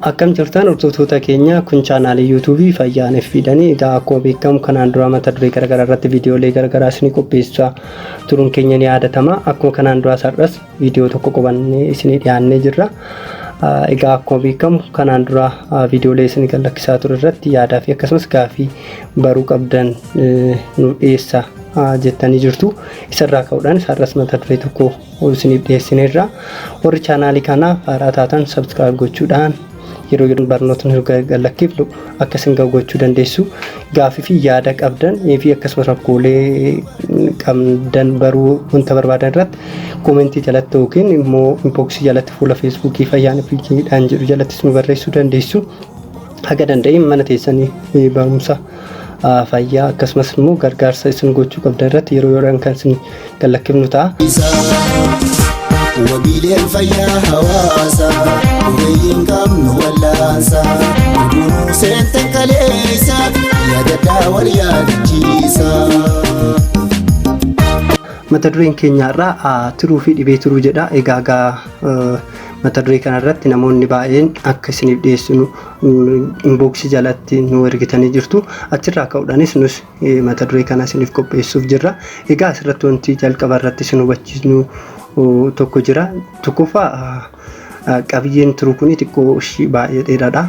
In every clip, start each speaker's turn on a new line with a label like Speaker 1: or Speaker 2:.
Speaker 1: Akkam jirtaan hordoftoota keenya kun chaanaalii yuutuubii fayyaan FB dhani egaa akkuma beekamu kanaan duraa mata duree garagaraa irratti viidiyoolee garagaraa isinii qopheessaa turuun keenya ni yaadatama akkuma kanaan duraa sar'as viidiyoo tokko qubannee isinii dhiyaannee jirra egaa akkuma beekamu kanaan duraa viidiyoolee isinii kan lakkisaa ture irratti yaadaa fi akkasumas gaafii baruu qabdan nu dhiyeessa jettanii jirtu isarraa ka'uudhaan sar'as mata duree tokko ol isiniif dhiyeessineerra. Warri chaanaalii kanaaf haaraa taatan subscribe gochuudhaan yeroo yeroo barnootni erga lakkifnu akka isin ga'u gochuu dandeessu. Gaafii fi yaada qabdan fi akkasumas rakkoolee qabdan baruu wanta barbaadan irratti koomentii jalatti yookiin immoo inboksii jalatti fuula feesbuukii fayyaan fiikiidhaan jedhu jalattis nu barreessuu dandeessu. Haga danda'een mana teessanii barumsa fayyaa akkasumas immoo gargaarsa isin gochuu qabdan irratti yeroo yeroodhaan kan isin gallakkifnu ta'a.
Speaker 2: Wabiileen fayyaa hawaasa ogeeyyiin qabnu wallaansa gurguruu seente kaleessa yaadadhaa wal yaadachiisa.
Speaker 1: Mata dureen keenya irraa tiruu fi dhibee tiruu jedha. Egaa egaa mata duree kanarratti namoonni baay'een akka isiniif dhiyeessinu inbox jalatti nu ergitanii jirtu. Achirraa ka'uudhaanis nus mata duree kana isiniif qopheessuuf jirra. Egaa asirratti wanti jalqaba irratti isin hubachiisnu tokko jira. Tokkoffaa qabiyyeen turuu kun xiqqoo ishii baay'ee dheeraadha.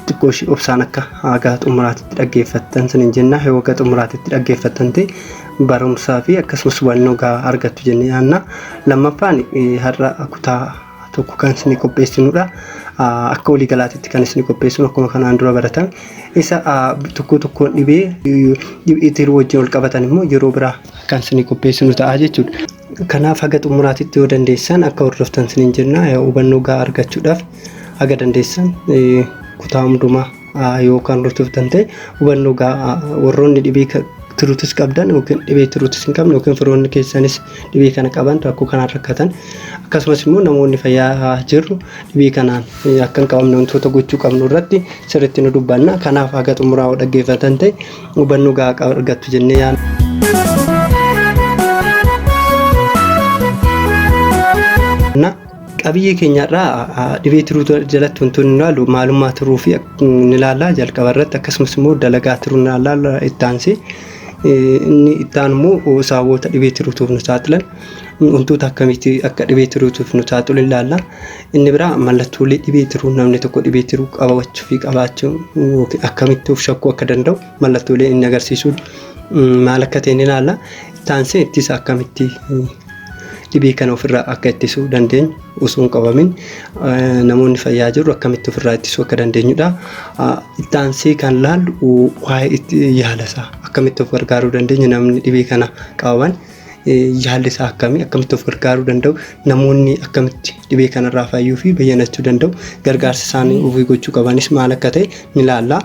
Speaker 1: Xiqqoo ishii obsaan akka haga xumuraatitti dhaggeeffattan isiniin jenna. Yoo haga xumuraatitti dhaggeeffattan ta'e barumsaa fi akkasumas hubannoo gahaa argattu jennee yaadna. Lammaffaan har'a kutaa tokko kan isinii qopheessinudha. Akka walii galaatitti kan isinii qopheessinu akkuma kanaan dura baratan isa tokko tokkoon dhibee dhibee tiruu wajjin wal qabatan immoo yeroo biraa kan isinii qopheessinu ta'a jechuudha. Kanaaf haga xumuraatitti yoo dandeessan akka hordoftan isiniin jenna hubannoo gahaa argachuudhaaf haga dandeessan kutaa hundumaa yoo kan hordoftan ta'e hubannoo gahaa warroonni dhibee tiruutis qabdan yookiin dhibee tiruutis hin qabne yookiin firoonni keessanis dhibee kana qaban rakkoo kanaan rakkatan akkasumas immoo namoonni fayyaa jirru dhibee kanaan akka hin qabamne wantoota gochuu qabnu irratti sirriitti nu dubbanna kanaaf haga xumuraa yoo dhaggeeffatan ta'e hubannoo gahaa argattu jennee yaadna. Qabiyyee keenya har'aa dhibee tiruu jalatti wantoonni nu ilaallu maalummaa tiruu fi ni ilaalla jalqaba irratti akkasumas immoo dalagaa tiruu ni ilaalla itti aansee inni itti aanu immoo sababoota dhibee tiruutiif nu saaxilan wantoota akkamitti akka dhibee tiruutiif nu saaxilu ilaalla. Inni biraa mallattoolee dhibee tiruu namni tokko dhibee tiruu qabachuu fi qabaachuu yookiin akkamitti of shakkuu akka danda'u mallattoolee inni agarsiisu maal akka ta'e ni ilaalla. Taansee ittisa akkamitti dhibee kana ofirraa akka ittisuu dandeenyu osoo hin qabamin namoonni fayyaa jirru akkamitti ofirraa ittisuu akka dandeenyudha. Taansee kan laallu waa'ee itti yaala isaa akkamitti of gargaaruu dandeenya namni dhibee kana qaban yaalli isaa akkamii akkamitti of gargaaruu danda'u namoonni akkamitti dhibee kanarraa fayyuu fi bayyanachuu danda'u gargaarsa isaanii ofii gochuu qabanis maal akka ta'e ni ilaalla.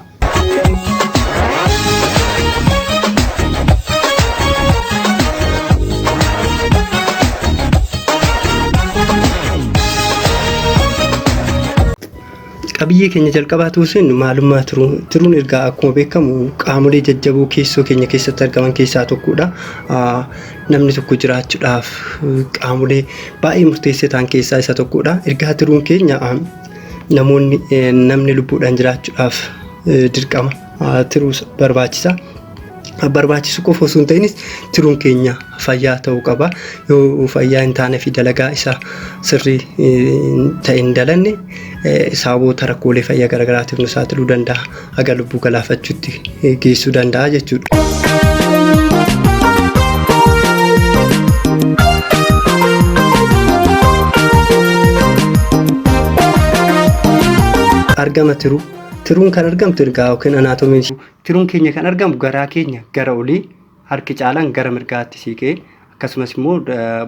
Speaker 1: Qabiyyee keenya jalqabaa tuusin maalummaa tiruu tiruun ergaa akkuma beekamu qaamolee jajjaboo keessoo keenya keessatti argaman keessaa tokkodha. Namni tokko jiraachuudhaaf qaamolee baay'ee murteessoo ta'an keessaa isa tokkodha. Ergaa tiruun keenya namoonni namni lubbuudhaan jiraachuudhaaf dirqama tiruus barbaachisa. Barbaachisu qofa osoo hin ta'inis tiruun keenya fayyaa ta'uu qaba. Yoo fayyaa hin taane fi dalagaa isaa sirrii ta'e hin dalanne sababoota rakkoolee fayyaa garaagaraatiif nu saaxiluu danda'a. haga lubbuu galaafachuutti geessuu danda'a jechuudha. argama tiruu tiruun kan argamtu ergaa yookiin anaatomiin tiruun keenya kan argamu garaa keenya gara olii harki caalaan gara mirgaatti siiqee akkasumas immoo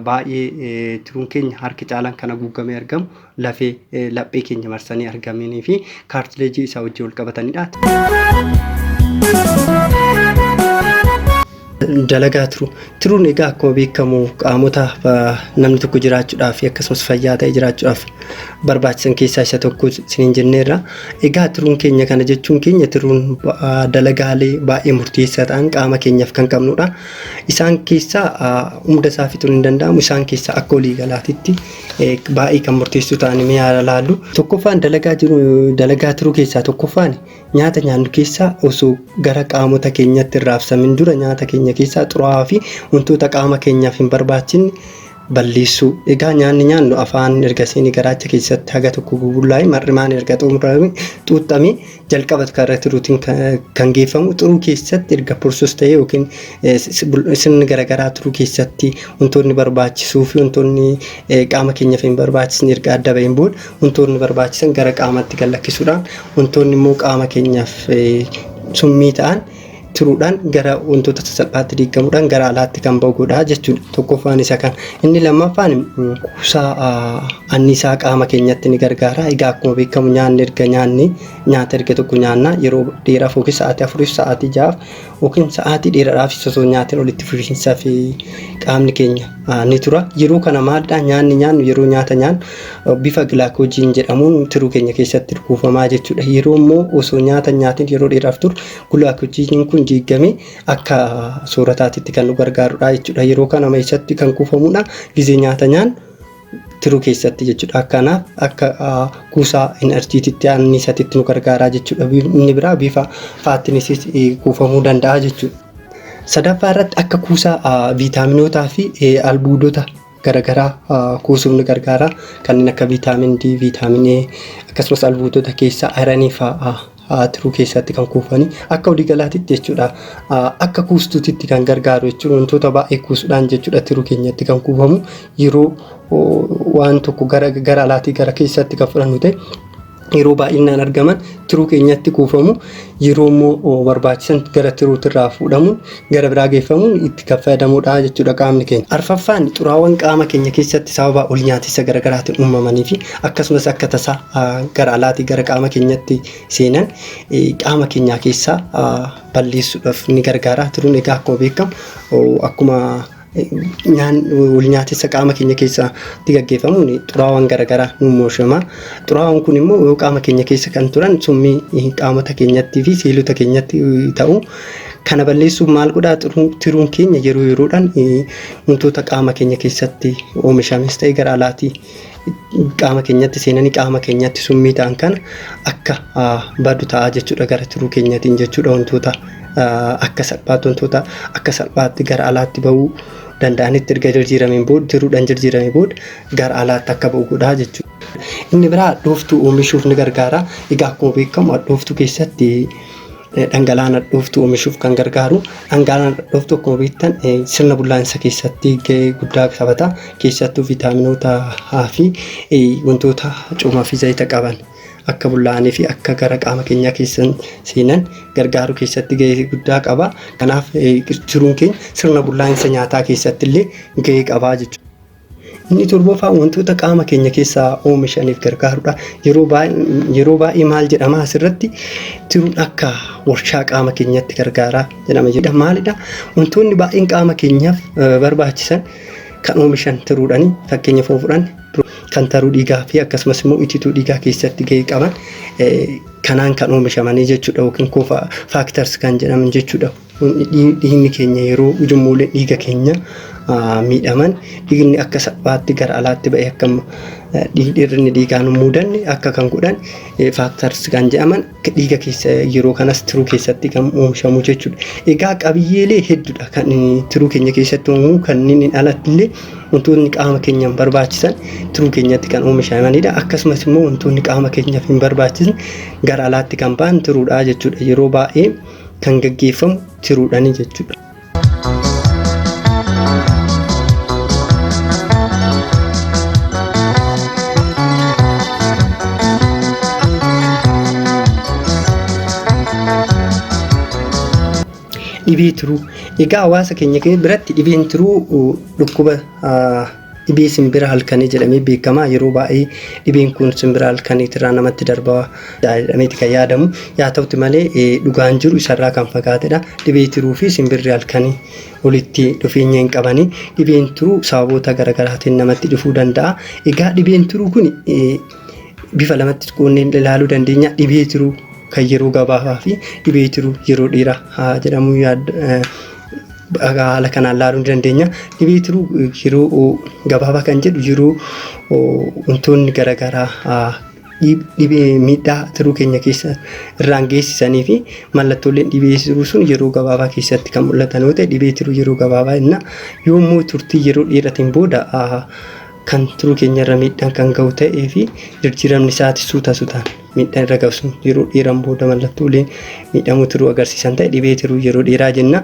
Speaker 1: baay'ee tiruun keenya harki caalaan kan haguuggamee argamu lafee laphee keenya marsanii argamanii fi kaartileejii isaa wajjin wal qabatanidha. dalagaa tiru tiruun egaa akkuma beekamu qaamota namni tokko jiraachuudhaaf akkasumas fayyaa ta'e jiraachuudhaaf barbaachisan keessaa isa tokko isiniin jenneerra. Egaa tiruun keenya kana jechuun keenya tiruun dalagaalee baay'ee murteessaa ta'an qaama keenyaaf kan qabnudha. Isaan keessaa hunda isaa fixuun hin danda'amu. Isaan keessaa akka walii galaatitti baay'ee kan murteessuu ta'an mee haa ilaallu. Tokkoffaan dalagaa jiru dalagaa tiruu keessaa tokkoffaan nyaata nyaannu keessaa osoo gara qaamota keenyatti hin raabsamin dura nyaata keenya keessaa xuraa'aa fi wantoota qaama keenyaaf hin barbaachisne balleessuu. Egaa nyaanni nyaannu afaan erga seene garaacha keessatti haga tokko bubullaa'e mar'imaan erga xumurame xuuxxame jalqaba karaa tiruutiin kan geeffamu xuruu keessatti erga pursus ta'e yookiin sirni garaagaraa turuu keessatti wantoonni barbaachisuu fi wantoonni qaama keenyaaf hin barbaachisne erga adda ba'een booda wantoonni barbaachisan gara qaamatti gad lakkisuudhaan wantoonni immoo qaama keenyaaf summii ta'an turuudhaan gara wantoota sasalphaatti diigamuudhaan gara alaatti kan ba'u godha jechuudha. Tokkoffaan isa kana. Inni lammaffaan kuusaa anniisaa qaama keenyatti ni gargaara. Egaa akkuma beekamu nyaanni erga nyaanni nyaata erga tokko nyaanna yeroo dheeraaf yookiin sa'aatii afuriif sa'aatii ja'aaf yookiin sa'aatii dheeraadhaaf osoo nyaatiin walitti fufiinsaa fi qaamni keenya ni tura. Yeroo kana maalidha nyaanni nyaannu yeroo nyaata nyaannu bifa gilaakoojiin jedhamuun tiruu keenya keessatti kuufamaa jechuudha. Yeroo immoo osoo nyaata nyaatiin yeroo dheeraaf turu Gulaa kuchiiniin kun diiggamee akka soorataatitti kan nu gargaarudha jechuudha. Yeroo kana nama eessatti kan kuufamudha? Gizee nyaata nyaan tiruu keessatti jechuudha. Kanaaf akka kuusaa inarjiititti anniisatitti nu gargaaraa jechuudha. Inni biraa bifa faatinisis kuufamuu danda'a jechuudha. Sadaffaa irratti akka kuusaa viitaaminootaa fi albuudota garagaraa kuusuuf nu gargaara. Kanneen akka viitaamin D, viitaamin A akkasumas albuudota keessaa ayiranii fa'aa tiruu keessatti kan kuufani. Akka waliigalaatitti jechuudha akka kuustuutitti kan gargaaru jechuudha wantoota baay'ee kuusuudhaan jechuudha tiruu keenyatti kan kuufamu yeroo waan tokko gara alaatii gara keessatti kan fudhannu ta'e yeroo baay'inaan argaman tiruu keenyatti kuufamu yeroo immoo barbaachisan gara tiruutti irraa fuudhamuun gara biraa geeffamuun itti kan fayyadamuudha jechuudha qaamni keenya. Arfaffaan xuraawwan qaama keenya keessatti sababa ol nyaatessa garaagaraatiin uumamanii fi akkasumas akka tasaa gara alaatii gara qaama keenyatti seenan qaama keenyaa keessaa balleessuudhaaf ni gargaara. Tiruun egaa akkuma beekamu akkuma walnyaatessa qaama keenya keessatti gaggeeffamuun xuraawaan garaagaraa nu mooshama. Xuraawaan kun immoo yoo qaama keenya keessa kan turan summii qaamota keenyattii fi seelota keenyatti ta'u. Kana balleessuuf maal godhaa tiruun keenya yeroo yeroodhaan wantoota qaama keenya keessatti oomishames ta'e gara alaatii qaama keenyatti seenanii qaama keenyatti summii ta'an kana akka badu ta'a jechuudha gara tiruu keenyatiin jechuudha wantoota akka salphaatti wantoota akka salphaatti gara alaatti ba'uu danda'anitti erga jijjiirameen booda tiruudhaan jijjiiramee booda gara alaatti akka ba'u godhaa jechuudha. Inni biraa hadhooftuu oomishuuf ni gargaara. Egaa akkuma beekamu hadhooftuu keessatti Dhangala'aa nadhooftuu oomishuuf kan gargaaru dhangala'aa nadhooftuu akkuma beektan sirna bullaa'insa keessatti gahee guddaa taphata. Keessattuu viitaaminoota A fi wantoota coomaa fi zayita qaban akka bullaa'anii fi akka gara qaama keenyaa keessa seenan gargaaruu keessatti gahee guddaa qaba. Kanaaf tiruun keenya sirna bullaa'insa nyaataa keessatti illee gahee qaba jechuudha. Inni torbaffaan wantoota qaama keenya keessaa oomishaniif gargaarudha. Yeroo baay'ee yeroo baay'ee maal jedhama asirratti tiruun akka warshaa qaama keenyatti gargaara jedhama jedha. Maalidha? Wantoonni baay'een qaama keenyaaf eh, barbaachisan kan oomishan tiruudhani. Fakkeenyaaf yoo fudhanne kan taruu dhiigaa fi akkasumas immoo itituu dhiigaa keessatti gahee qaban eh, kanaan kan oomishamanii jechuudha yookiin koo faaktars kan jedhaman jechuudha. Dhiigni keenya yeroo ujummoole dhiiga keenya miidhaman dhiigni akka salphaatti gara alaatti ba'e akka dhiirri dhiigaa nu mudanne akka kan godhan faaktarsi kan jedhaman dhiiga keessa yeroo kanas tiruu keessatti kan oomishamu jechuudha. Egaa qabiyyeelee hedduudha kan tiruu keenya keessatti oomamu kanneen alatti illee wantoonni qaama keenyaaf barbaachisan tiruu keenyatti kan oomishamanidha. Akkasumas immoo wantoonni qaama keenyaaf hin barbaachisne gara alaatti kan ba'an tiruudha jechuudha. Yeroo baay'ee kan gaggeeffamu tiruudhaani jechuudha. Dhibee tiruu egaa hawaasa keenya biratti dhibeen tiruu dhukkuba Dhibee simbira halkanii jedhamee beekama. Yeroo baay'ee dhibeen kun simbira halkaniitirraa namatti darba jedhameeti kan yaadamu. Yaa ta'uti malee dhugaan jiru isarraa kan fagaatedha. Dhibee tiruu fi simbirri halkanii walitti dhufeenya hin qabani. Dhibeen tiruu sababoota garaagaraatiin namatti dhufuu danda'a. Egaa dhibeen tiruu kun bifa lamatti quunneen ilaaluu dandeenya. Dhibee tiruu kan yeroo gabaabaa fi dhibee tiruu yeroo dheeraa haa jedhamu yaad- eh, haala kanaan laaluu ni dandeenya. Dhibee tiruu eh, yeroo oh, gabaabaa kan jedhu yeroo oh, wantoonni garaagaraa ah, dhib- dhibee miidhaa tiruu keenya keessa irraan geessisanii fi mallattooleen dhibee tiruu sun yeroo gabaabaa keessatti kan mul'atan yoo ta'e dhibee tiruu yeroo gabaabaa jenna. Yoo immoo turtii yeroo dheeratiin booda ah, kan tiruu keenya irra miidhaan kan ga'u ta'ee fi jirjiiramni isaati suuta suutaan miidhaan irra ga'u sun yeroo dheeraan booda mallattoolee miidhamuu tiruu agarsiisan ta'e dhibee tiruu yeroo dheeraa jenna.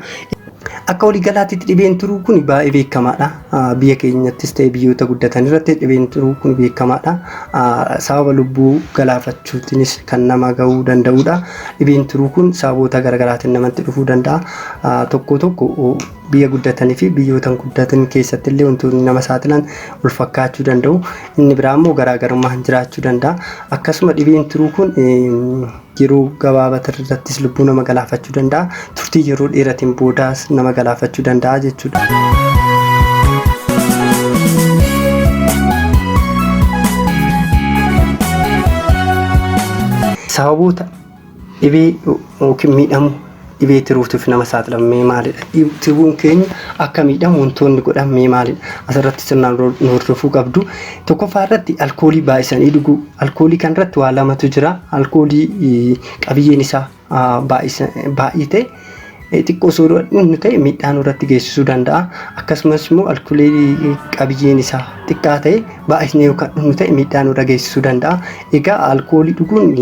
Speaker 1: Akka waliigalaatti dhibeen tiruu kun baay'ee beekamaadha. Biyya keenyattis ta'e biyyoota guddatan irratti dhibeen tiruu kun beekamaadha. Sababa lubbuu galaafachuutiinis kan nama ga'uu danda'udha. Dhibeen tiruu kun sababoota garaagaraatiin namatti dhufuu danda'a. Tokko tokko Biyya guddatanii fi biyyoota hin guddatin keessatti illee wantoonni nama saaxilan wal fakkaachuu danda'u. Inni biraa immoo garaagarummaan jiraachuu danda'a. Akkasuma dhibeen tiruu kun yeroo gabaabaa irrattis lubbuu nama galaafachuu danda'a. Turtii yeroo dheeratiin boodaas nama galaafachuu danda'a jechuudha. Sababoota Dhibee yookiin miidhamu dhibee tiruutiif nama saaxilan mee maalidha? Tiruun keenya akka miidhamu wantoonni godhan mee maalidha? Asirratti sirnaan nu hordofuu qabdu. Tokkoffaa irratti alkoolii baay'isanii dhuguu. Alkoolii kan irratti waa lamatu jira. Alkoolii qabiyyeen isaa baay'ee ta'e xiqqoo osoo dhugnu ta'e miidhaa nurratti geessisuu danda'a. Akkasumas immoo alkoolii qabiyyeen isaa xiqqaa ta'e baay'isnee yoo kan dhugnu ta'e miidhaa nurra geessisuu danda'a. Egaa alkoolii dhuguun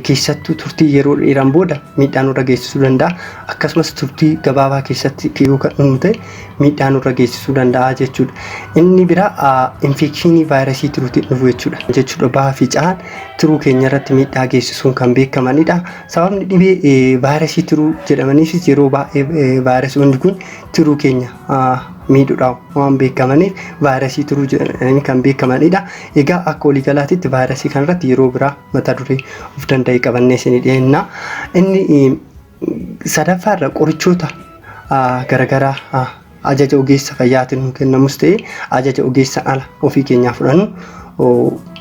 Speaker 1: keessattuu turtii yeroo dheeraan booda miidhaa nurra geessisuu danda'a. Akkasumas turtii gabaabaa keessatti yoo kan dhumnu ta'e miidhaa nurra geessisuu danda'a jechuudha. Inni biraa infekshinii vaayirasii tiruutiin dhufu jechuudha. Jechuudha bahaa fi cahaan tiruu keenya irratti miidhaa geessisuun kan beekamanidha. Sababni dhibee vaayirasii tiruu jedhamaniifis yeroo baay'ee vaayirasoonni kun tiruu keenya miidhudhaan waan beekamaniif vaayirasii turuu jedhanii kan beekamanidha. Egaa akka waliigalaatitti vaayirasii kanarratti yeroo biraa mata duree of danda'e qabannee isinii dhiyeessina. Inni sadaffaarra qorichoota garagaraa ajaja ogeessa fayyaatiin nu kennamus ta'e ajaja ogeessa ala ofii keenyaa fudhannu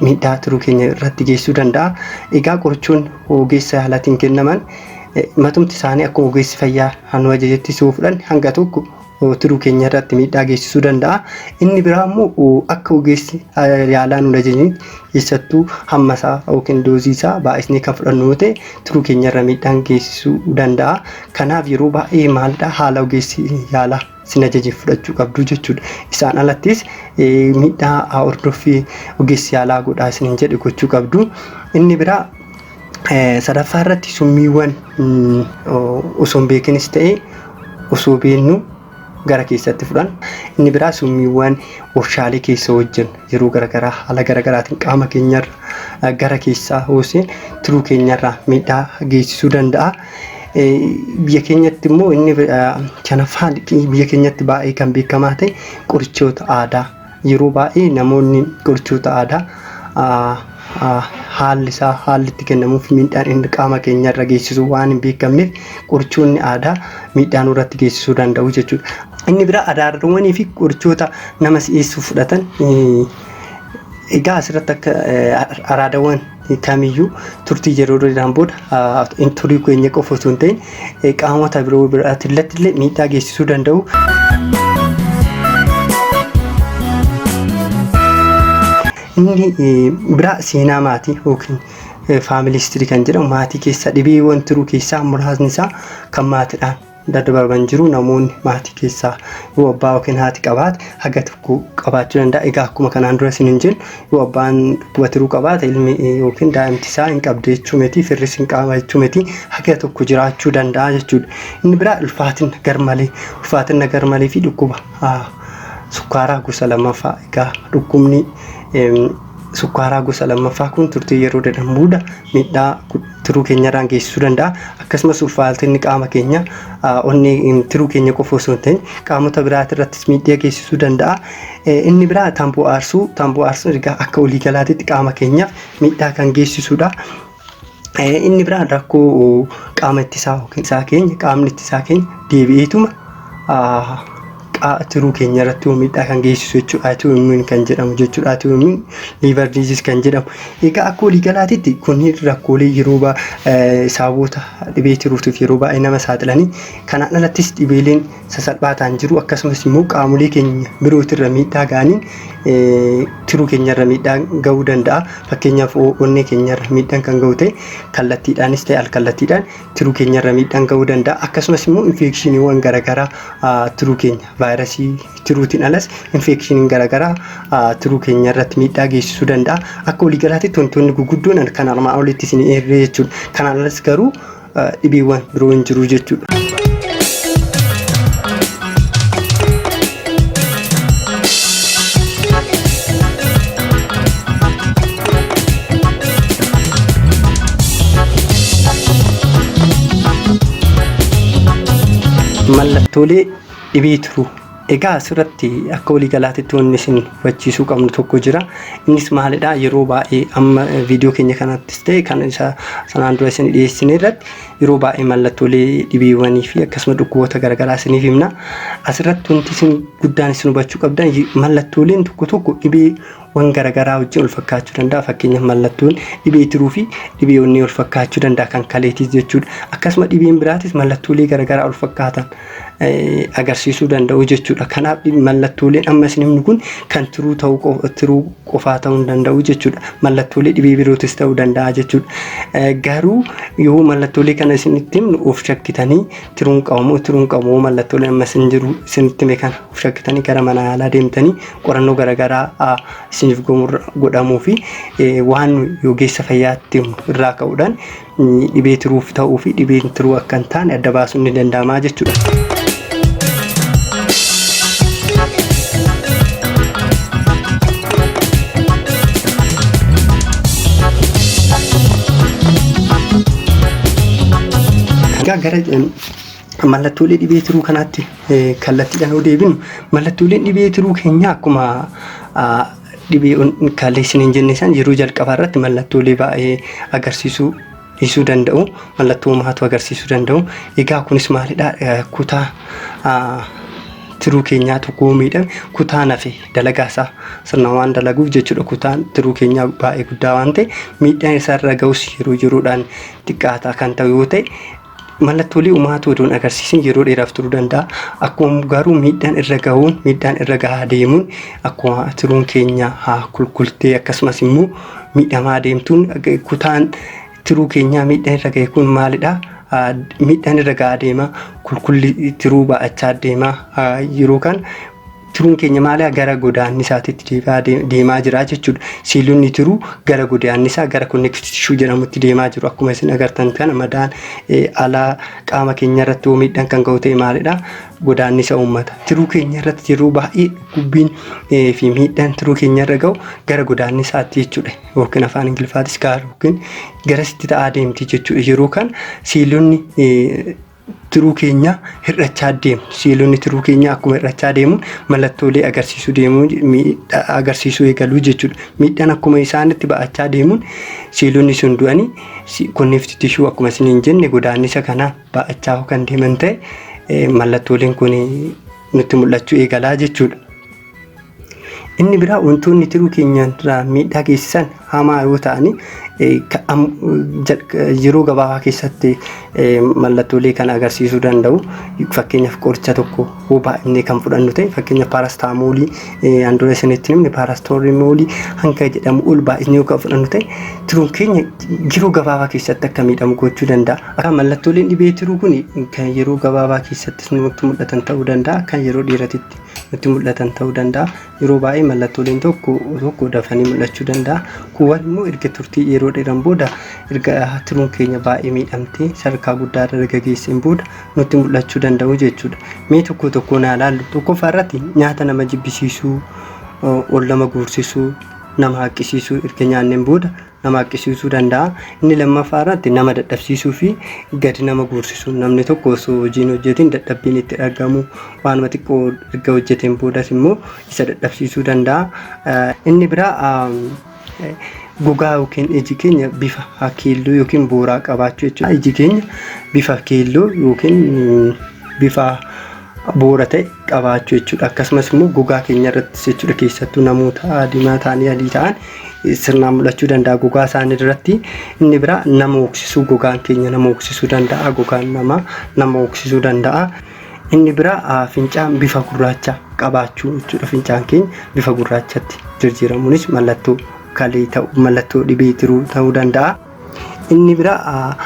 Speaker 1: miidhaa tiruu keenya irratti geessuu danda'a. Egaa qorichoonni ogeessa yaalaatiin kennaman matumti isaanii akkuma ogeessi fayyaa hanu ajajetti si fudhan hanga tokko tiruu keenya irratti miidhaa geessisuu danda'a. Inni biraa immoo akka ogeessi yaalaa nu ajajni keessattuu hamma isaa yookiin doozii isaa baay'isnee kan fudhannu yoo ta'e tiruu keenya irra miidhaan geessisuu danda'a. Kanaaf yeroo baay'ee maalidha haala ogeessi yaalaa sin ajaje fudhachuu qabdu jechuudha. Isaan alattis miidhaa hordoffii ogeessi yaalaa godhaa isiniin jedhe gochuu qabdu. Inni biraa sadaffaa irratti summiiwwan osoo hin beekinis ta'e osoo beennu gara keessatti fudhan. Inni biraa summiiwwan warshaalee keessa hojjennu yeroo garaagaraa haala garaagaraatiin qaama keenyarra gara keessaa hoosee tiruu keenyarraa miidhaa geessisuu danda'a. Biyya keenyatti immoo inni shanaffaan biyya keenyatti baay'ee kan beekamaa ta'e qorichoota aadaa. Yeroo baay'ee namoonni qorichoota aadaa haalli isaa haalli itti kennamuuf miidhaan inni qaama keenya irra geessisu waan hin beekamneef qorichoonni aadaa miidhaa nurratti geessisuu danda'u jechuudha. Inni biraa adaadawwanii fi qorichoota nama si'eessuuf fudhatan egaa asirratti akka araadawwan kamiyyuu turtii yeroo dheeraan booda turii keenya qofa osoo hin ta'in qaamota biroo biraatti illee miidhaa geessisuu danda'u. Inni biraa seenaa maatii yookiin faamilii istirii kan jedhamu maatii keessaa dhibeewwan tiruu keessaa muraasni isaa kan maatiidhaan daddabarban jiru namoonni maatii keessaa yoo abbaa yookiin haati qabaate haga tokko qabaachuu danda'a egaa akkuma kanaan dura isin hin jennu yoo abbaan dhukkuba tiruu qabaate ilmi yookiin daa'imti isaa hin qabdu jechuu miti firris hin qaama jechuu miti haga tokko jiraachuu danda'a jechuudha inni biraa ulfaatina garmalee ulfaatina garmalee fi dhukkuba ah, sukkaaraa gosa lammaffaa egaa dhukkubni em, sukkaaraa gosa lammaffaa kun turtii yeroo dheeraa booda miidhaa tiruu keenyarraan geessisuu danda'a. Akkasumas ulfaatinni qaama keenya onnee tiruu keenya qofa osoo hin ta'in qaamota biraati irrattis miidhaa geessisuu danda'a. Inni biraa tamboo aarsuu tamboo aarsuun ergaa akka waliigalaatitti qaama keenyaaf miidhaa kan geessisudha. Inni biraa rakkoo qaama ittisaa yookiin isaa keenya qaamni ittisaa keenya deebi'eetuma qaa tiruu keenya irratti yoo miidhaa kan geessisu jechuudha. Atuu immuun kan jedhamu jechuudha. Atuu immuun liivar diiziis kan jedhamu. Egaa akka walii galaatitti kunniin rakkoolee yeroo baa sababoota dhibee tiruutiif yeroo baay'ee nama saaxilanii kanaan alattis dhibeeleen sasalphaa ta'an jiru akkasumas immoo qaamolee keenya birootirra miidhaa ga'aniin tiruu keenyarra miidhaa ga'uu danda'a. Fakkeenyaaf onnee keenyarra miidhaan kan ga'u ta'e kallattiidhaanis ta'e alkallattiidhaan tiruu keenya irra miidhaan ga'uu danda'a akkasumas immoo infeekshiniiwwan garaagaraa tiruu keenya vaayirasii tiruutiin alas infeekshiniin garaagaraa tiruu keenya irratti miidhaa geessisuu danda'a akka waliigalaatti wantoonni guguddoon kan armaan olitti isin eerree jechuudha kanaan alas garuu dhibeewwan biroo hin jiru jechuudha. mallattoolee dhibee tiruu egaa asirratti akka waliigalaatitti wanni isin hubachiisuu qabnu tokko jira innis maalidha yeroo baay'ee amma viidiyoo keenya kanattis ta'e kan isa sanaan dura isin dhiyeessine irratti Yeroo baay'ee mallattoolee dhibeewwanii fi akkasuma dhukkuboota garaagaraa isiniif himna. Asirratti wanti isin guddaan isin hubachuu qabdan mallattooleen tokko tokko dhibeewwan garaagaraa wajjin wal fakkaachuu danda'a. Fakkeenyaaf mallattoon dhibee tiruu fi dhibee onnee wal fakkaachuu danda'a kan kaleetiis jechuudha. Akkasuma dhibeen biraatis mallattoolee garaagaraa wal fakkaatan agarsiisuu danda'u jechuudha. Kanaaf mallattooleen amma isin himnu kun kan tiruu ta'uu tiruu qofaa ta'uu hin danda'u jechuudha. Mallattoolee dhibee birootis ta'uu danda'a jechuudha. Eh, Garuu yoo mallattoolee kana isinitti himnu of shakkitanii tiruun qabamoo tiruun qabamoo mallattoolee amma isin jiru isinitti hime kana of shakkitanii gara mana yaalaa deemtanii qorannoo garaagaraa ah, isiniif gomurra godhamuu fi eh, waan nu ogeessa fayyaatti himnu irraa ka'uudhaan Dhibee tiruuf ta'uu fi dhibeen tiruu akka hin taane adda baasuun ni danda'ama jechuudha. Egaa gara mallattoolee dhibee tiruu kanaatti kallattiidhaan yoo deebinu mallattooleen dhibee tiruu keenyaa akkuma Dhibee'uun kaallee isiniin jenne san yeroo jalqabaa irratti mallattoolee baay'ee agarsiisuu dhiisuu danda'u. Mallattoo uumaatu agarsiisuu danda'u. Egaa kunis maalidha? Kutaa tiruu keenyaa tokko miidhame kutaan hafe dalagaa isaa sirna waan dalaguuf jechuudha. Kutaan tiruu keenyaa baay'ee guddaa waan ta'e miidhaan isaarra ga'us yeroo yeroodhaan xiqqaataa kan ta'u yoo ta'e Mallattoolee umaatu odoon agarsiisin yeroo dheeraaf turuu danda'a. Akkuma garuu miidhaan irra gahuun miidhaan irra gahaa deemuun akkuma tiruun keenya haa kulkultee akkasumas immoo miidhamaa deemtuun kutaan tiruu keenyaa miidhaan irra gahe kun maalidha? Miidhaan irra gahaa deema kulkulli tiruu baa'achaa deema yeroo kan Tiruun keenya maalaa gara godaannisaatitti deebi'aa deem- deemaa jira jechuudha. Siilonni tiruu gara godaannisaa gara connective tissue jedhamutti deemaa jiru. Akkuma isin agartan kana madaan eh, alaa qaama keenya irratti yoo miidhaan kan ga'u ta'e maalidha? Godaannisa uummata. Tiruu keenya irratti yeroo baay'ee dhukkubbiin eh, fi miidhaan tiruu keenya irra ga'u gara godaannisaatti jechuudha. Yookiin afaan Ingiliffaatis gaara yookiin garasitti ta'aa deemti jechuudha. Yeroo kana siilonni eh, tiruu keenyaa hir'achaa deemu. Seelonni tiruu keenyaa akkuma hir'achaa deemuun mallattoolee agarsiisuu deemuu miidhaa agarsiisuu eegaluu jechuudha. Miidhaan akkuma isaanitti ba'achaa deemuun seelonni sun du'anii si- konneefti tishuu akkuma isin hin jenne godaannisa kanaan ba'achaa kan deeman ta'e eh, mallattooleen kun nutti mul'achuu eegalaa jechuudha. Inni biraa wantoonni tiruu keenyaan irraa miidhaa geessisan hamaa yoo ta'ani yeroo gabaabaa keessatti mallattoolee kan agarsiisuu danda'u. Fakkeenyaaf qoricha tokko yoo baay'inee kan fudhannu ta'e fakkeenyaaf paarastaamoolii handura isinitti himne paarastoolimoolii hanga jedhamu ol baay'inee yoo kan fudhannu ta'e tiruun keenya yeroo gabaabaa keessatti akka miidhamu gochuu danda'a. Akka mallattooleen dhibee tiruu kun kan yeroo gabaabaa keessatti nutti mul'atan ta'uu danda'a kan yeroo dheeratitti. nutti mul'atan ta'uu danda'a. Yeroo baay'ee mallattooleen tokko tokko dafanii mul'achuu danda'a. Kuuwwan immoo erga turtii yeroo dheeran booda erga tiruun keenya baay'ee miidhamtee sadarkaa guddaa irra erga geesseen booda nutti mul'achuu danda'u jechuudha. Mee tokko tokkoon haa ilaallu. Tokkoffaa irratti nyaata nama jibbisiisuu, ol nama guursisuu, nama haqqisiisuu erga nyaanneen booda nama haqqisiisuu danda'a. Inni lammaffaa irratti nama dadhabsiisuu fi gadi nama guursisu. Namni tokko osoo hojiin hojjetiin dadhabbiin itti dhagamu waanuma xiqqoo erga hojjeteen boodas immoo isa dadhabsiisuu danda'a. Inni biraa gogaa yookiin iji keenya bifa keelloo yookiin booraa qabaachuu jechuudha. Iji keenya bifa keelloo yookiin bifa bu'uura ta'e qabaachuu jechuudha. Akkasumas immoo gogaa keenya irrattis jechuudha keessattuu namoota diimaa ta'anii adii ta'an sirnaan mul'achuu danda'a gogaa isaanii irratti. Inni biraa nama hooksisuu gogaan keenya nama hooksisuu danda'a gogaan namaa nama hooksisuu danda'a. Inni biraa fincaan bifa gurraacha qabaachuu jechuudha. Fincaan keenya bifa gurraachatti jijjiiramuunis mallattoo kalee ta'uu mallattoo dhibee tiruu ta'uu danda'a. Inni biraa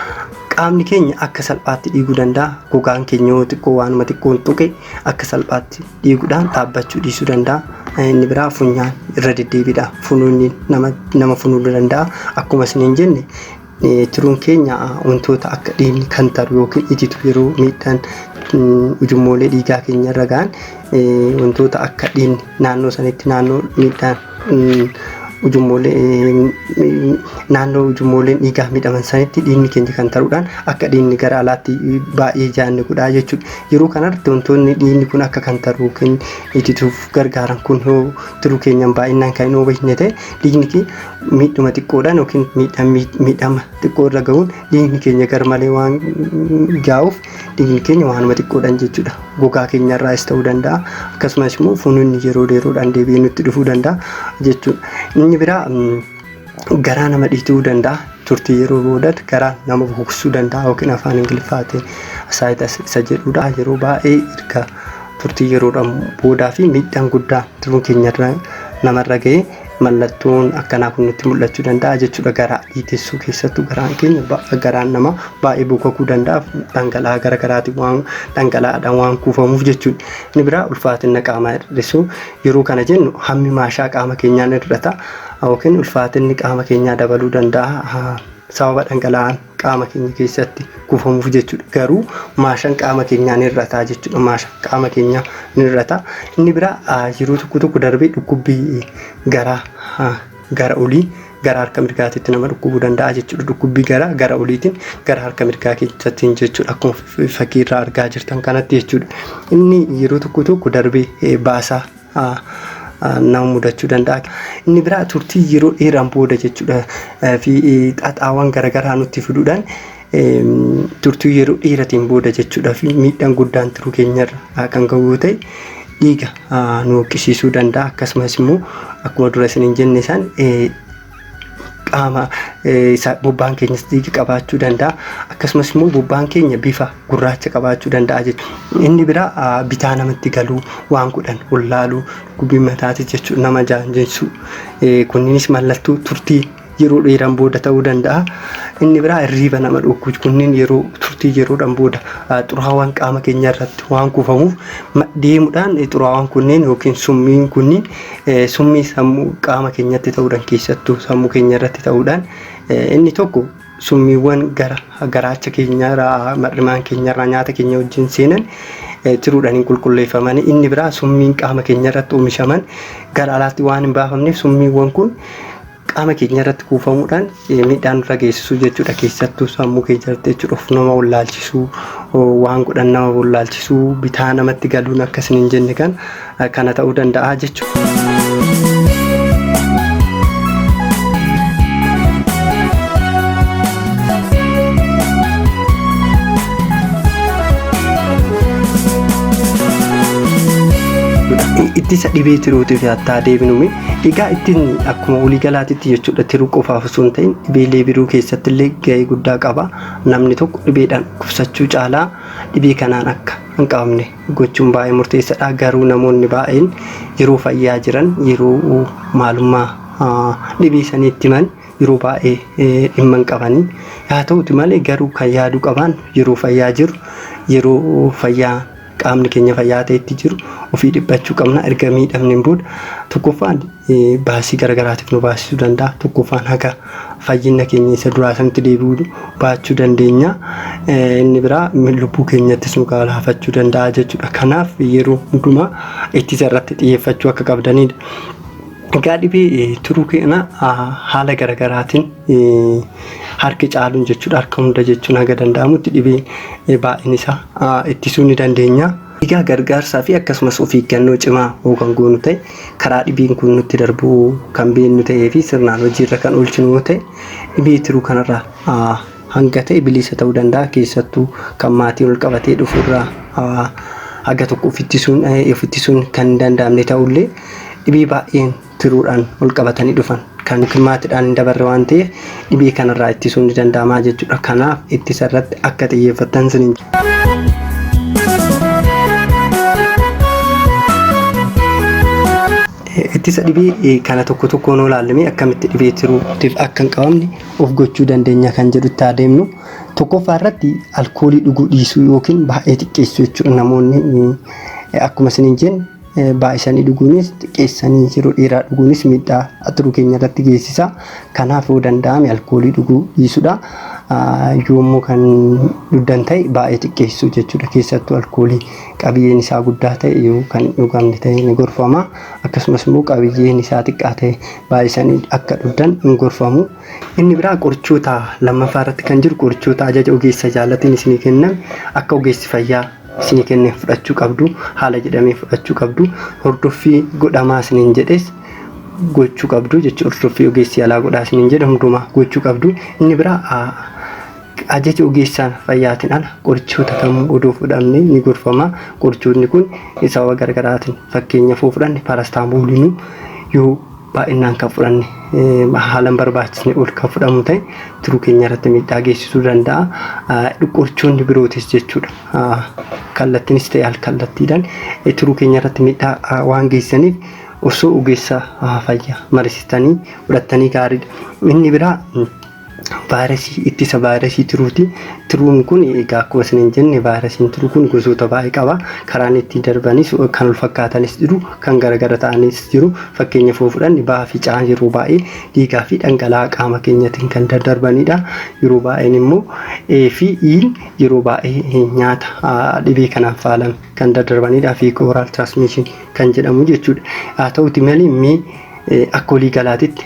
Speaker 1: qaamni keenya akka salphaatti dhiiguu danda'a. Gogaan keenya yoo xiqqoo waanuma xiqqoon tuqe akka salphaatti dhiiguudhaan dhaabbachuu dhiisuu danda'a. Inni biraa funyaan irra deddeebiidha. Funuunni nama, nama funuunuu danda'a. Akkuma isiniin jenne eh, tiruun keenya ah, wantoota akka dhiigni kan taru yookiin ititu yeroo miidhaan mm, ujummoolee dhiigaa keenya irra ga'an eh, wantoota akka dhiigni naannoo sanitti naannoo miidhaan naannoo ujummooleen dhiigaa miidhaman sanitti dhiigni keenya kan taruudhaan akka dhiigni gara alaatti baay'ee jaanni godhaa jechuudha. Yeroo kanarratti wantoonni dhiigni kun akka kan taru yookiin itituuf gargaaran kun yoo tiruu keenyaan baay'inaan kan hin oomishne ta'e dhiigni miidhuma xiqqoodhaan yookiin miidhama xiqqoo irra gahuun dhiigni keenya garmalee waan jaa'uuf dhiigni keenya waanuma xiqqoodhaan jechuudha gogaa keenyarraas ta'uu danda'a akkasumas immoo funuunni yeroo yeroodhaan deebi'ee nutti dhufuu danda'a jechuudha inni biraa garaa nama dhiituu danda'a turtii yeroo boodat garaa nama bukusuu danda'a yookiin afaan ingiliffaatiin asaayitas isa jedhudha yeroo baay'ee erga turtii yeroodhaan boodaa fi miidhaan guddaa tiruu keenyarra namarra ga'ee Mallattoon akkanaa kun nutti mul'achuu danda'a jechuudha garaa dhiitessuu keessattuu garaan keenya ba- garaan namaa baay'ee bokokuu danda'a dhangala'aa gara garaatiin waan dhangala'aadhaan waan kuufamuuf jechuudha. Inni biraa ulfaatina qaamaa hir'isuu yeroo kana jennu hammi maashaa qaama keenyaa ni hir'ata yookiin ulfaatinni qaama keenyaa dabaluu danda'a ah, sababa dhangala'aan qaama keenya keessatti kuufamuuf jechuudha. Garuu maashan qaama keenyaa ni hir'ataa jechuudha. Maashan qaama keenyaa ni hir'ataa. Inni biraa ah, yeroo tokko tokko darbee dhukkubbii garaa ah, gara olii gara harka mirgaatitti nama dhukkubuu danda'a jechuudha. Dhukkubbii garaa gara oliitiin gara harka mirgaa keessattiin jechuudha. Akkuma f- fakkii irraa argaa jirtan kanatti jechuudha. Inni yeroo tokko tokko darbee eh, baasaa nama mudachuu danda'a. Inni biraa turtii yeroo dheeraan booda jechuudha fi xaxaawwan garaagaraa nutti fiduudhaan turtii yeroo dheeratiin booda jechuudha fi miidhaan guddaan tiruu keenyarra kan ga'u yoo ta'e dhiiga nu hoqqisiisuu danda'a akkasumas immoo akkuma dura isiniin jenne san qaama isaa bobbaan keenyas dhiiga qabaachuu danda'a akkasumas immoo bobbaan keenya bifa gurraacha qabaachuu danda'a jechuudha. Inni biraa bitaa namatti galuu waan godhan wallaaluu dhukkubbii mataatis jechuudha nama jaanjessuu kunniinis mallattoo turtii yeroo dheeran booda ta'uu danda'a. Inni biraa hirriiba nama dhorkuu kunniin yeroo turtii yeroodhan booda xuraawaan qaama keenya irratti waan kuufamuuf deemuudhaan xuraawaan kunniin yookiin summiin kunniin Summii sammuu qaama keenyatti ta'uudhaan keessattuu sammuu keenya irratti ta'uudhaan inni tokko summiiwwan gara garaacha keenyarraa mar'imaan keenyarraa nyaata keenya wajjin seenan tiruudhaan hin qulqulleeffaman inni biraa summiin qaama keenyarratti oomishaman gara alaatti waan hin baafamneef summiiwwan kun qaama keenya irratti kuufamuudhaan eh, miidhaa nurra geessisuu jechuudha. Keessattuu sammuu keenya irratti jechuudha of nama wallaalchisuu, oh, waan godhan nama wallaalchisuu, bitaa namatti galuun akka isin hin jenne kan eh, kana ta'uu danda'a jechuudha. ittisa dhibee tiruutiif yaattaa deebinume Egaa ittiin akkuma waliigalaatitti jechuudha tiruu qofaaf osoo hin ta'in dhibeelee biroo keessatti illee gahee guddaa qaba. Namni tokko dhibeedhaan dhukkubsachuu caalaa dhibee kanaan akka hin qabamne gochuun baay'ee murteessadha. Garuu namoonni baay'een yeroo fayyaa jiran yeroo maalummaa dhibee sanii itti himan yeroo baay'ee dhimma hin qabanii. Haa ta'uti malee garuu kan yaaduu qabaan yeroo fayyaa jiru yeroo fayyaa qaamni keenya fayyaa ta'e itti jiru ofii dhiphachuu qabna erga miidhamneen booda tokkoffaan baasii garagaraatiif nu baasisuu danda'a tokkoffaan haga fayyinna keenya isa duraa sanitti deebi'uu baachuu dandeenya inni biraa lubbuu keenyattis nu gaalaafachuu danda'a jechuudha kanaaf yeroo hundumaa ittisa irratti xiyyeeffachuu akka qabdanidha. Egaa dhibee turuu keenya haala garagaraatiin harki caaluun jechuudha harka hunda jechuun haga danda'amutti dhibee eh, baay'een isaa ah, ittisuu ni dandeenya. Egaa gargaarsaa fi akkasumas of eeggannoo cimaa hoo kan goonu ta'e karaa dhibeen kun nutti darbu kan beeknu ta'ee fi sirnaan hojiirra kan oolchinu yoo ta'e dhibee tiruu kanarraa ah, hanga ta'e bilisa ta'uu danda'a keessattuu kan maatiin ol qabatee dhufuurraa ah, haga tokko of ittisuun eh, of ittisuun kan hin danda'amne ta'ullee dhibee baay'een tiruudhaan walqabatanii dhufan kan yookiin maatiidhaan hin dabarre waan ta'eef dhibee kanarraa ittisuun ni danda'ama jechuudha. Kanaaf ittisa irratti akka xiyyeeffattan isiniin ittisa dhibee kana tokko tokkoon yoo ilaallee akkamitti dhibee tiruutiif akka hin qabamne of gochuu dandeenya kan jedhutti haa deemnu. Tokkoffaa irratti alkoolii dhuguu dhiisuu yookiin baay'ee xiqqeessuu jechuudha namoonni akkuma isiniin jenne Baay'isanii dhuguunis xiqqeessanii yeroo dheeraa dhuguunis miidhaa atiruu keenya irratti geessisa. Kanaaf yoo danda'ame alkoolii dhuguu dhiisudha. Yoo immoo kan dhugdan ta'e baay'ee xiqqeessuu jechuudha. Keessattuu alkoolii qabiyyeen isaa guddaa ta'e yoo kan hin dhugamne ta'e ni gorfama. Akkasumas immoo qabiyyeen isaa xiqqaa ta'e baay'isanii akka dhugdan hin gorfamu. Inni biraa qorichoota lammaffaa irratti kan jiru qorichoota ajaja ogeessa jaalatiin isinii kenname akka ogeessi fayyaa isinii kenne fudhachuu qabdu haala jedhamee fudhachuu qabdu hordoffii godhamaa isiniin jedhes gochuu qabdu jecha hordoffii ogeessi yaalaa godhaa isiniin jedhe hundumaa gochuu qabdu inni biraa ajaja ogeessaa fayyaatiin ala qorichoota kamuu odoo fudhanne ni gorfama qorichoonni kun sababa gargaraatiin fakkeenya foo fudhanne paarastaamooliinuu yoo baay'innaan kan fudhanne haala hin barbaachisne ol kan fudhamu ta'e tiruu keenya irratti miidhaa geessisuu danda'a. Qorichoonni birootis jechuudha kallattiinis ta'e alkallattiidhaan tiruu keenya irratti miidhaa waan geessaniif osoo ogeessa fayyaa marisitanii fudhattanii gaariidha. Inni biraa vaayirasii ittisa vaayirasii tiruuti. Tiruun kun egaa akkuma isiniin jenne vaayirasiin tiruu kun gosoota baay'ee qaba. Karaan ittiin darbanis kan wal fakkaatanis jiru, kan garagara ta'anis jiru. Fakkeenya foo fudhanne baha ficaan yeroo baay'ee dhiigaa fi dhangala'aa qaama keenyatiin kan daddarbanidha. Yeroo baay'een immoo A fi I'n yeroo baay'ee nyaata dhibee kanaan faalame kan daddarbanidha. Fecal oral transmission kan jedhamu jechuudha. Haa ta'uti malee mee Akka walii galaatitti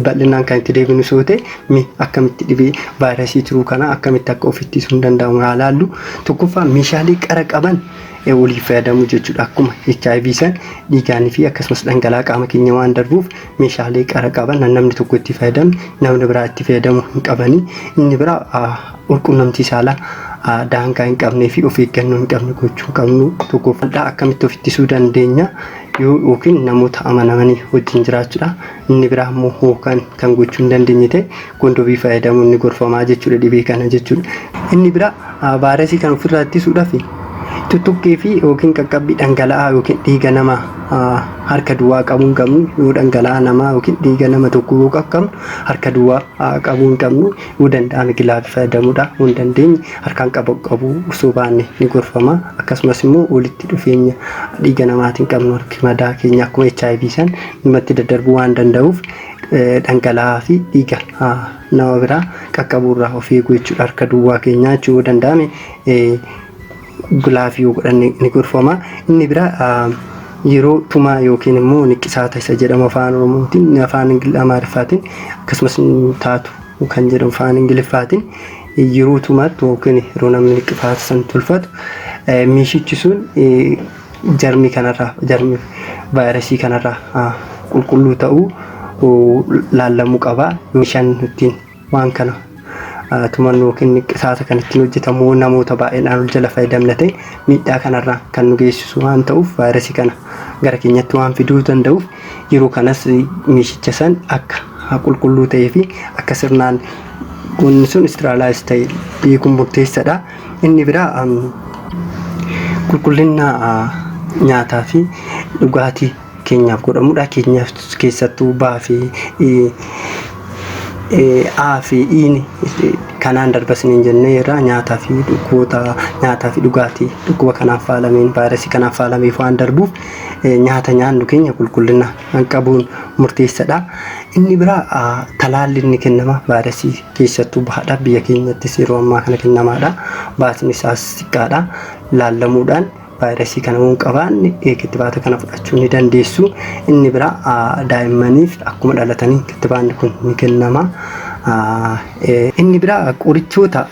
Speaker 1: bal'inaan kan itti deebinu soo ta'e mi akkamitti dhibee vaayirasii tiruu kana akkamitti akka of ittisuun danda'amu haa laallu. Tokkoffaa meeshaalee qara qaban waliif fayyadamuu jechuudha. Akkuma HIV san dhiigaanii fi akkasumas dhangala'aa qaama keenya waan darbuuf meeshaalee qara qaban namni tokko itti fayyadame namni biraa itti fayyadamuu hin qabani. Inni biraa Walqunnamtii saalaa daangaa hin qabnee fi of eeggannoo hin qabne gochuu qabnu. Tokkoffaa akkamitti of ittisuu dandeenya yoo yookiin namoota amanamanii wajjin jiraachuudha. Inni biraa immoo hookan kan gochuu hin dandeenye ta'e kondomii fayyadamuun ni gorfamaa jechuudha dhibee kana jechuudha. Inni biraa vaayirasii kan ofirraa ittisuudhaaf tuttuqqii fi yookiin qaqqabbii dhangala'aa yookiin dhiiga nama harka duwwaa qabuu hin qabnu yoo dhangala'aa namaa yookiin dhiiga nama tokko yoo qaqqabnu harka duwwaa qabuu hin qabnu. Yoo danda'ame gilaavii fayyadamuudhaa yoo hin dandeenye harkaan qaba qabuu osoo baanne ni gorfama. Akkasumas immoo walitti dhufeenya dhiiga namaatiin qabnu harki madaa keenya akkuma HIV san namatti daddarbuu waan danda'uuf dhangala'aa fi dhiiga nama biraa qaqqabuurraa of eeguu jechuudha. Harka duwwaa keenyaa jechuu yoo danda'ame Glaaf yoo godhan ni gorfama. Inni biraa yeroo tumaa yookiin immoo niqqisaata isa jedhamu afaan oromootiin afaan amaariffaatiin akkasumas taatu kan jedhamu afaan ingiliffaatiin yeroo tumaattu yookiin yeroo namni niqqifaata san tolfatu meeshichi sun jarmii kanarraa jarmii vaayirasii kanarraa qulqulluu ta'uu laallamuu qaba meeshaan ittiin Waan kana tumannu yookiin niqqisaata kan ittiin hojjetamu namoota baay'eedhaan ol jala fayyadamna ta'e miidhaa kanarraan kan nu geessisu waan ta'uuf vaayirasii kana gara keenyatti waan fiduu danda'uuf yeroo kanas meeshicha san akka qulqulluu ta'ee fi akka sirnaan wanni sun istiraalaayis ta'e beekuun murteessadha. Inni biraa qulqullina nyaataa fi dhugaatii keenyaaf godhamudha. Keenyaaf keessattuu baa fi A fi Iin kanaan darbasniin jennee irraa nyaataa fi dhukkuboota nyaataa fi dhugaatii dhukkuba kanaaf faalameen vaayirasii kanaaf faalameef waan darbuuf nyaata nyaannu keenya qulqullina qabuun murteessadha. Inni biraa talaalli inni kennama vaayirasii keessattuu bahaadha biyya keenyattis yeroo ammaa kana kennamaadha. Baasni isaas xiqqaadha laallamuudhaan. Vaayirasii kana yoo hin qabaanne kittibaata kana fudhachuu ni dandeessu. Inni biraa daa'immaniif akkuma dhalatanii kittibaanni kun ni kennama. Inni biraa qorichoota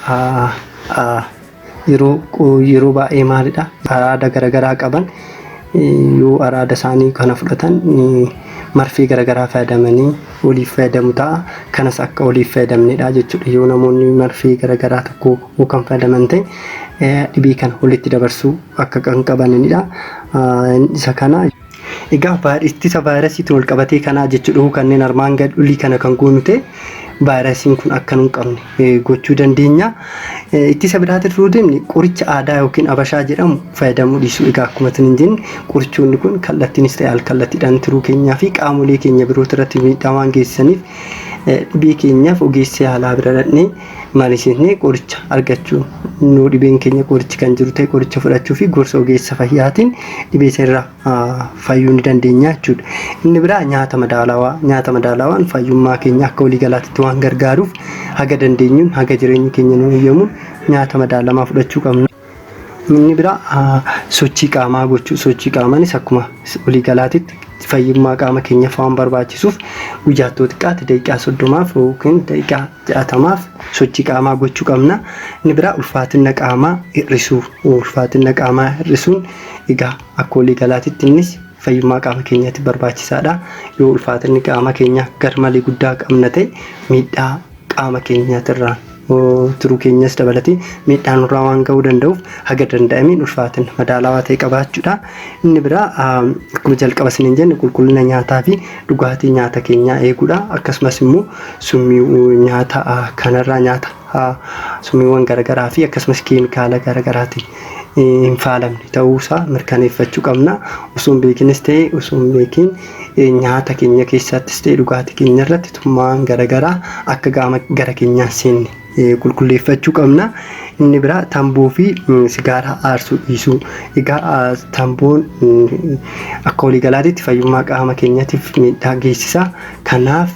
Speaker 1: yeroo baay'ee maalidha araada garaagaraa qaban yoo araada isaanii kana fudhatan marfee garaagaraa fayyadamanii waliif fayyadamu ta'a. Kanas akka waliif fayyadamnedha jechuudha. Yoo namoonni marfee garagaraa tokko yoo kan fayyadaman ta'e eh, dhibee kana walitti dabarsuu akka kan qabanidha. Ah, Isa kana Egaa vaayir- ittisa vaayirasiitiin wal qabatee kanaa jechuudha. Huu kanneen armaan gad olii kana kan goonu ta'e vaayirasiin kun akka nu hin qabne gochuu dandeenya. Ittisa biraatti turuu deemne qoricha aadaa yookiin abashaa jedhamu fayyadamuu dhiisuu egaa akkuma isin hin jenne qorichoonni kun kallattiinis ta'e alkallattiidhaan tiruu keenyaa fi qaamolee keenya birooti irratti miidhaa waan geessisaniif dhibee keenyaaf ogeessa yaalaa bira dhaqnee mariisisnee qoricha argachuu nuu dhibeen keenya qorichi kan jiru ta'e qoricha fudhachuu fi gorsa ogeessa fayyaatiin dhibee sirraa fayyuu ni dandeenya jechuudha. Inni biraa nyaata madaalawaa. Nyaata madaalawaan fayyummaa keenya akka walii galaatitti waan gargaaruuf haga dandeenyuun haga jireenyi keenya nu eeyyamuun nyaata madaalamaa fudhachuu qabna. Inni biraa sochii qaamaa gochuu. Sochii qaamaanis akkuma walii galaatitti fayyummaa qaama keenyaaf waan barbaachisuuf guyyaatti yoo xiqqaate daqiiqaa soddomaaf yookiin daqiiqaa jaatamaaf sochii qaamaa gochuu qabna. Inni biraa ulfaatina qaamaa hir'isuu. Ulfaatina qaamaa hir'isuun Egaa akka walii galaatitti innis fayyummaa qaama keenyaatiif barbaachisaadha. Yoo ulfaatinni qaama keenyaa garmalee guddaa qabna ta'e miidhaa qaama keenyaatirraan tiruu keenyas dabalatee miidhaa nurraa waan ga'uu danda'uuf haga danda'ameen ulfaatina madaalawaa ta'e qabaachuudha. Inni biraa akkuma jalqaba isiniin jenne qulqullina nyaataa fi dhugaatii nyaata keenyaa eeguudha. Akkasumas immoo summii nyaata kanarraa nyaata summiiwwan garaagaraa fi akkasumas keemikaala garaagaraatiin hin faalamne ta'uusaa mirkaneeffachuu qabna. Osoo hin beekinis ta'e osoo hin beekin nyaata keenya keessattis ta'e dhugaatii keenya irratti tummaan garagaraa akka qaama gara keenyaa hin seenne qulqulleeffachuu qabna. Inni biraa tamboo fi sigaaraa aarsuu dhiisuu. Egaa tamboon akka waliigalaatitti fayyummaa qaama keenyatiif miidhaa geessisa. Kanaaf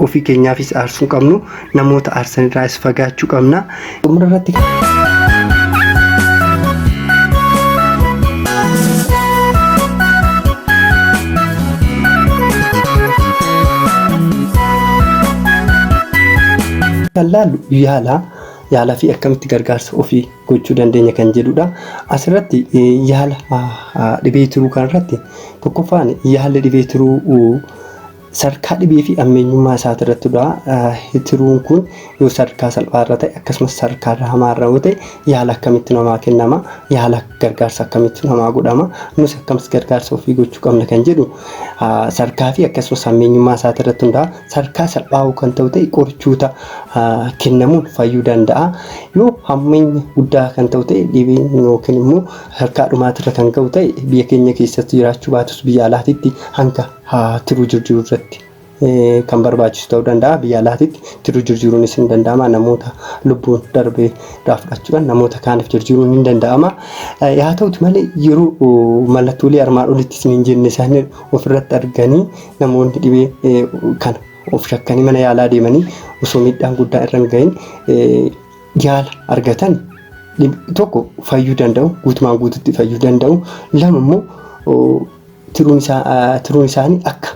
Speaker 1: ofii keenyaafis aarsuu qabnu namoota aarsan irraas fagaachuu qabna. Xumura irratti kan laallu yaala yaalaa fi akkamitti gargaarsa ofii gochuu dandeenya kan jedhudha. Asirratti yaala dhibee tiruu kanarratti tokkoffaan yaalli dhibee tiruu Sadarkaa dhibee fi ammeenyummaa isaatirratti hunda'a. Tiruun kun yoo sadarkaa salphaa irra ta'e akkasumas sadarkaa irra hamaa irra yoo ta'e yaala akkamitti namaa kennama? Yaala gargaarsa akkamitti namaa godhama? Nus akkamis gargaarsa ofii gochuu qabna kan jedhu sadarkaa fi akkasumas ammeenyummaa isaatirratti hunda'a. Sadarkaa salphaa kan ta'u ta'e qorichoota kennamuun fayyuu danda'a. Yoo hammeenya guddaa kan ta'u ta'e dhibeen yookiin immoo sadarkaa dhumaatirra kan ga'u ta'e biyya keenya keessatti jiraachuu baatus biyya alaatitti hanga haa tiruu jirjiru irratti kan barbaachisu ta'uu danda'a biyya alaatitti tiruu jirjiruunis hin danda'ama namoota lubbuun darbee irraa fudhachuudhaan namoota kaaniif jirjiruun hin danda'ama yaa ta'uti malee yeroo mallattoolee armaan olitti isin hin jenne isaanii ofirratti arganii namoonni dhibee kana of shakkanii mana yaalaa deemanii osoo miidhaan guddaa irra hin gahin yaala argatan tokko fayyuu danda'u guutumaan guututti fayyuu danda'u lama immoo tiruun isaa ah, tiruun isaanii akka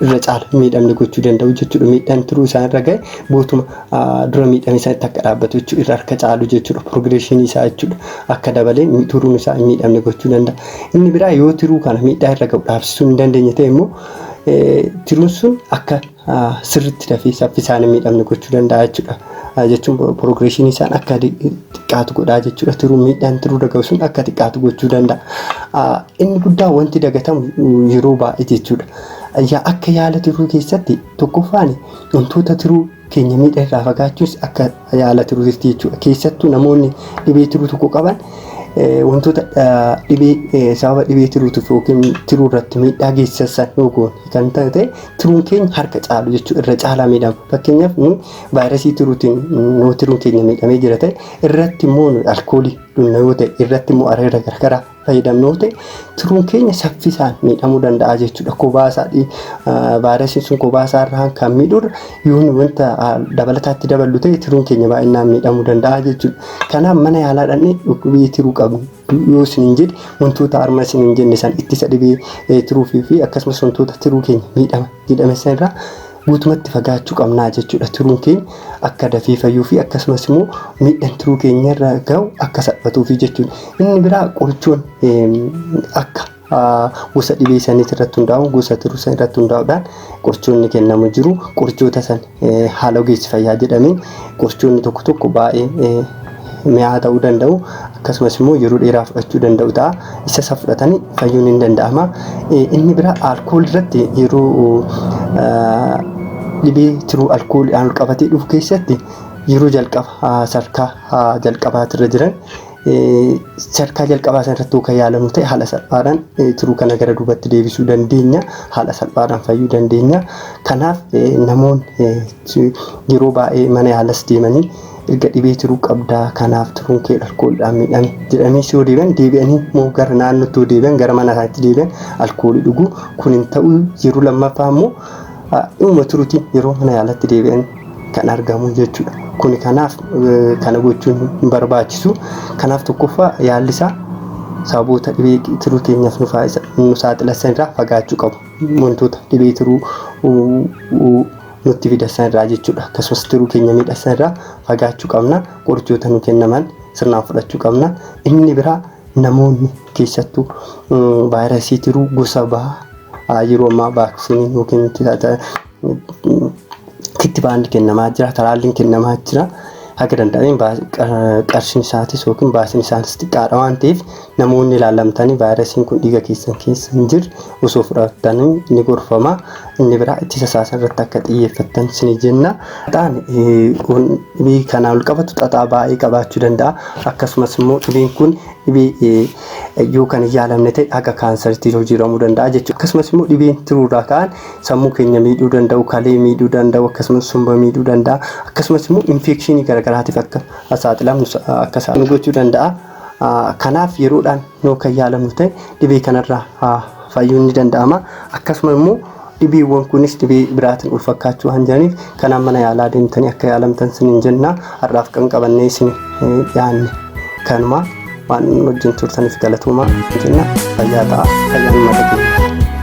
Speaker 1: irra caala hin miidhamne gochuu danda'u jechuudha. Miidhaan tiruu isaan irra ga'e guutuma ah, dura miidhame isaanitti akka dhaabbatu jechuudha. Irra harka caalu jechuudha. Piroogreeshinii isaa jechuudha. Akka dabalee mi- tiruun isaa hin miidhamne gochuu danda'a. Inni biraa yoo tiruu kana miidhaa irra ga'u dhaabsisuu hin dandeenye ta'e immoo eh, tiruun sun akka sirritti dafee saffisaan miidhamni gochuu danda'a jechuudha. Jechuun progression isaan akka xiqqaatu godhaa jechuudha. Tiruu miidhaan tiruu dagahu sun akka xiqqaatu gochuu danda'a. Inni guddaan wanti dagatamu yeroo baay'ee jechuudha. Yaa akka yaala tiruu keessatti tokkoffaan wantoota tiruu keenya miidha irraa fagaachuus akka yaala tiruutisti jechuudha. Keessattuu namoonni dhibee tiruu tokko qaban wantoota dhibee sababa dhibee tiruutiif yookiin tiruu irratti miidhaa geessisan yoo goone kan ta'e tiruun keenya harka caalu jechuudha irra caalaa miidhama. Fakkeenyaaf nu vaayirasii tiruutiin nu tiruun keenya miidhamee jira ta'e irratti immoo nu alkoolii dhugna yoo ta'e irratti immoo areera garagaraa fayyadamnu ta'e tiruun keenya saffisaan miidhamuu danda'a jechuudha. Kophaa isaa vaayirasiin sun kophaa isaa irraan kan miidhudha. Yoo nu wanta dabalataatti daballu ta'e tiruun keenya baay'inaan miidhamuu danda'a jechuudha. Kanaaf mana yaalaa dhaqnee dhukkubii tiruu qabnu yoo isin hin jedhe wantoota harma isin hin jenne san ittisa dhibee tiruufii fi akkasumas wantoota tiruu keenya miidhama jedhame san irraa guutumatti fagaachu qabnaa jechudha tiruun keenya akka dafee fayyuufi akkasumas immoo miidhan tiruu keenya irra ga'u akka salphatuufi jechuudha inni biraa qorichoon akka gosa dhibee saniis irratti hundaa'uun gosa tiruu san irratti hundaa'uudhaan qorichoonni kennamu jiru qorichoota san haala ogeessi fayyaa jedhameen qorichoonni tokko tokko baay'ee mi'aa ta'uu danda'u akkasumas immoo yeroo dheeraa fudhachuu danda'u ta'a. Isa isa fudhatan fayyuun hin danda'ama. Inni bira alkool irratti yeroo dhibee tiruu alkooliidhaan ol qabatee dhufu keessatti yeroo jalqaba sarkaa jalqabaati irra jiran sarkaa jalqabaa sana irratti kan yaalamu ta'e haala salphaadhaan tiruu kana gara duubatti deebisuu dandeenya. Haala salphaadhaan fayyuu dandeenya. Kanaaf namoonni C. Yeroo baayee mana yaalas deemanii erga dhibee tiruu qabdaa kanaaf tiruun kee alkooliidhaan miidhame jedhaniis yoo deebi'an deebi'anii immoo gara naannootti yoo deebi'an gara mana isaaniitti deebi'an alkoolii dhugu kun hin ta'u yeroo lammaffaa immoo dhimma tiruutiin yeroo mana yaalatti deebi'an kan argamu jechuudha. Kuni kanaaf kana gochuun hin barbaachisu. Kanaaf tokkoffaa yaalli isaa sababoota dhibee tiruu keenyaaf nu saaxilan irraa fagaachuu qabu. Wantoota dhibee tiruu nutti fida san irraa jechuudha akkasumas tiruu keenya miidha san irraa fagaachuu qabna qorichoota nu kennaman sirnaan fudhachuu qabna inni biraa namoonni keessattuu vaayirasii tiruu gosa bahaa yeroo ammaa vaaksiniin yookiin kittibaanni kennamaa jira talaalliin kennamaa jira haga danda'ameen qarshiin isaatis yookiin baasiin isaatis xiqqaadha waan ta'eef Namoonni ilaalamtanii vaayirasiin kun dhiiga keessan keessa hin jirre osoo fudhattanii ni gorfama. Inni biraa ittisa isaa irratti akka xiyyeeffattan isinii jenna. Xaxaan dhibee kanaa ol qabatu xaxaa baay'ee qabaachuu danda'a. Akkasumas immoo dhibeen kun dhibee yoo kan hin yaalamne ta'e haga kaansaritti jijjiiramuu danda'a jechuudha. Akkasumas immoo dhibeen tiruu irraa ka'an sammuu keenya miidhuu danda'u, kalee miidhuu danda'u, akkasumas somba miidhuu danda'a. Akkasumas immoo infeekshinii garaagaraatiif akka saaxilamnu akka nu gochuu danda'a. Kanaaf yeroodhaan yoo kan yaalamu ta'e dhibee kanarraa fayyuun ni danda'ama. Akkasuma immoo dhibeewwan kunis dhibee biraatiin ol fakkaachuu waan jiraniif kanaan mana yaalaa deemtanii akka yaalamtan sinin jenna. Har'aaf kan qabannee isin dhiyaanne kanuma waan wajjin turtaniif galatoomaa jenna. Fayyaa ta'a. Fayyaan mata keenya.